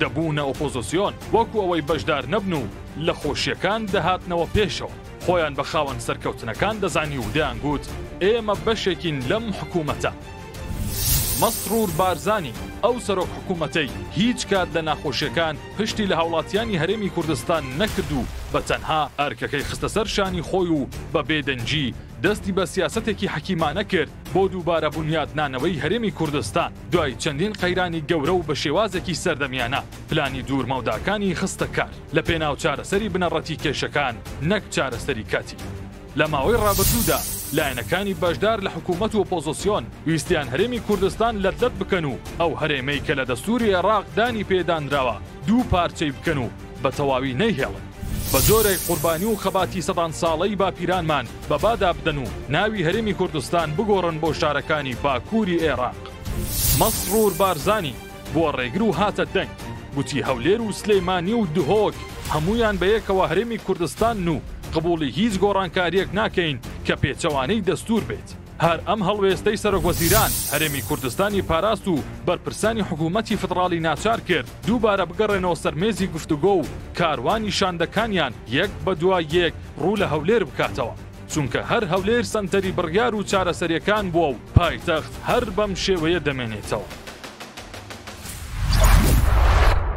دەبوونە ئۆپۆزسیۆن وەکو ئەوەی بەشدار نەبن و لە خۆشیەکان دەهاتنەوە پێشەوە خۆیان بە خاوەن سەرکەوتنەکان دەزانی و دەیانگووت ئێمە بەشێکین لەم حکوومەتە. مەسرور بارزانی ئەو سەرۆک حکوومەتەی هیچ کات لە ناخۆشیەکان پشتی لە هاوڵاتیانی هەرێمی کوردستان نەکرد و بە تەنها ئەرکەکەی خستە سەر شانی خۆی و بە بێ دەنگی دەستی بە سیاسەتێکی حەکیمانە کرد بۆ دووبارە بونیادنانەوەی هەرێمی کوردستان. دوای چەندین قەیرانی گەورە و بە شێوازێکی سەردەمیانە پلانی دوورمەوداکانی خستە کار لە پێناو چارەسەری بنەڕەتی کێشەکان نەک چارەسەری کاتی. لە ماوەی ڕابردوودا لایەنەکانی بەشدار لە حکوومەت و ئۆپۆزسیۆن ویستیان هەرێمی کوردستان لەتلەت بکەن و ئەو هەرێمەی کە لە دەستووری عێڕاق دانی پێدانراوە دوو پارچەی بکەن و بە تەواوی نەیهێڵن. بە جۆرێک قوربانی و خەباتی سەدان ساڵەی باپیرانمان بە بادا بدەن و ناوی هەرێمی کوردستان بگۆڕن بۆ شارەکانی باکووری ئێراق. مەسرور بارزانی بووە ڕێگر و هاتە دەنگ، گوتی هەولێر و سلێمانی و دهۆک هەموویان بە یەکەوە هەرێمی کوردستانن و قبووڵی هیچ گۆڕانکارییەک ناکەین کە پێچەوانەی دەستوور بێت. هەر ئەم هەڵوێستەی سەرۆکوەزیران هەرێمی کوردستانی پاراست و بەرپرسانی حکوومەتی فدڕاڵی ناچار کرد دووبارە بگەڕێنەوە سەر مێزی گفتوگۆ و کاروانی شاندەکانیان یەک بە دوای یەک ڕوو لە هەولێر بکاتەوە. چونکە هەر هەولێر سەنتەری بڕیار و چارەسەرییەکان بووە و پایتەخت هەر بەم شێوەیە دەمێنێتەوە.